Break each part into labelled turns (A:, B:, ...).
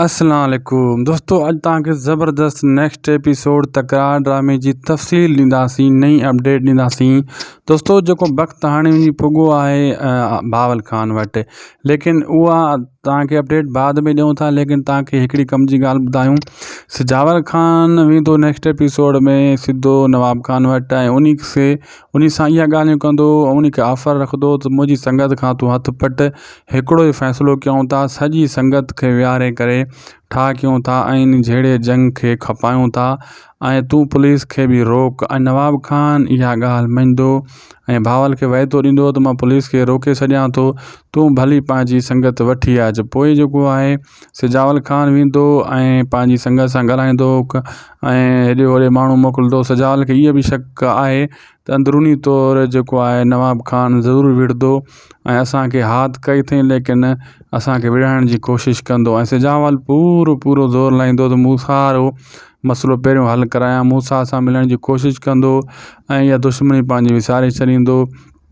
A: اسلام عليڪم دوستو اڄ توهان کي زبردست نيڪسٽ ايپيسوڊ تڪرار ڊرامي جي تفصيل ڏينداسين نئين اپڊيٽ ڏينداسين دوستو جيڪو وقت هاڻي وڃي پڳو آهي باول خان وٽ ليڪن اها توهان کي اپڊيٽ بعد ۾ ڏيون ٿا ليڪن توهان کي هڪڙي ڪم جي ڳالهه ٻڌايون سجاور خان ويندو نيڪسٽ ايپيسوڊ ۾ سڌو نواب خان وٽ ۽ انهي کي انهي سان اها ڳالهيون ڪندو انهي کي آفر رکندو ته منهنجي سنگت کان تون هٿ پٽ هڪڙو ئي فيصلو ڪيون ٿا سڄي سنگت کي ويهاري ڪري ٺاهه ڪيون ٿا ۽ انهي جهيڙي جنگ کي کپايون ٿا ۽ تون پوليس کي به روڪ ۽ نواب خان اها ڳالهه مڃيندو ۽ بهاول کي وعدو ڏيندو ته مان پوليس کي روڪي ڇڏيان ٿو تون ڀلي پنهنجي سنگت وٺي اچ پوء جيڪو آهي سجاول خان ويندو هو ۽ پنهنجي سنگت سان ڳالهائيندو هو ۽ هيڏي هوڏي ماڻهو موڪلندو هو سجاول کي اهو به شڪ آهي ته اندروني طور جيڪو آهي نواب خان ضرور وڙهندو ۽ اسانکي هات ڪئي اٿئي ليڪن اسانکي وڙهائڻ جي ڪوشش ڪندو ۽ سجاول پورو پورو زور لائيندو ته مون سار هو مسئلو پهريون حل ڪرايان مون سار سان ملڻ جي ڪوشش ڪندو ۽ اها دشمني پنهنجي وساري ڇڏيندو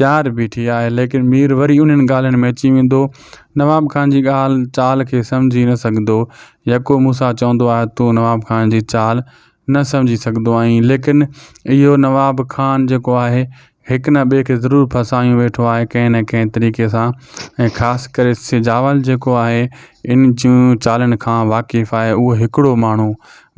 A: تيار بيٺي آهي ليڪن مير وري انهن ڳالهين ۾ اچي ويندو. نواب خان جي ڳالهه چال کي سمجهي نه سگهندو. يڪو موسيٰ چوندو آهي تون نواب خان جي چال نه سمجهي سگهندو آهين ليڪن اهو نواب خان جيڪو آهي هڪ نه ٻئي کي ضرور ڦاسايون ويٺو آهي ڪنهن نه ڪنهن طريقي سان ۽ خاص ڪري سجاول جيڪو آهي ان جون چالن کان واقف آهي اهو هڪڙو ماڻهو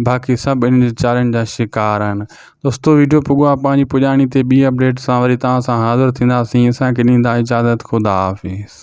A: باقي سڀ ان جي چالن جا شڪار آهن دوستو ويڊيو پڳو آ پنهنجي پڄاڻي تي ٻي اپڊيٽ سان وري توهان سان حاضر ٿينداسين اسان کي ڏيندا اجازت خدا حافظ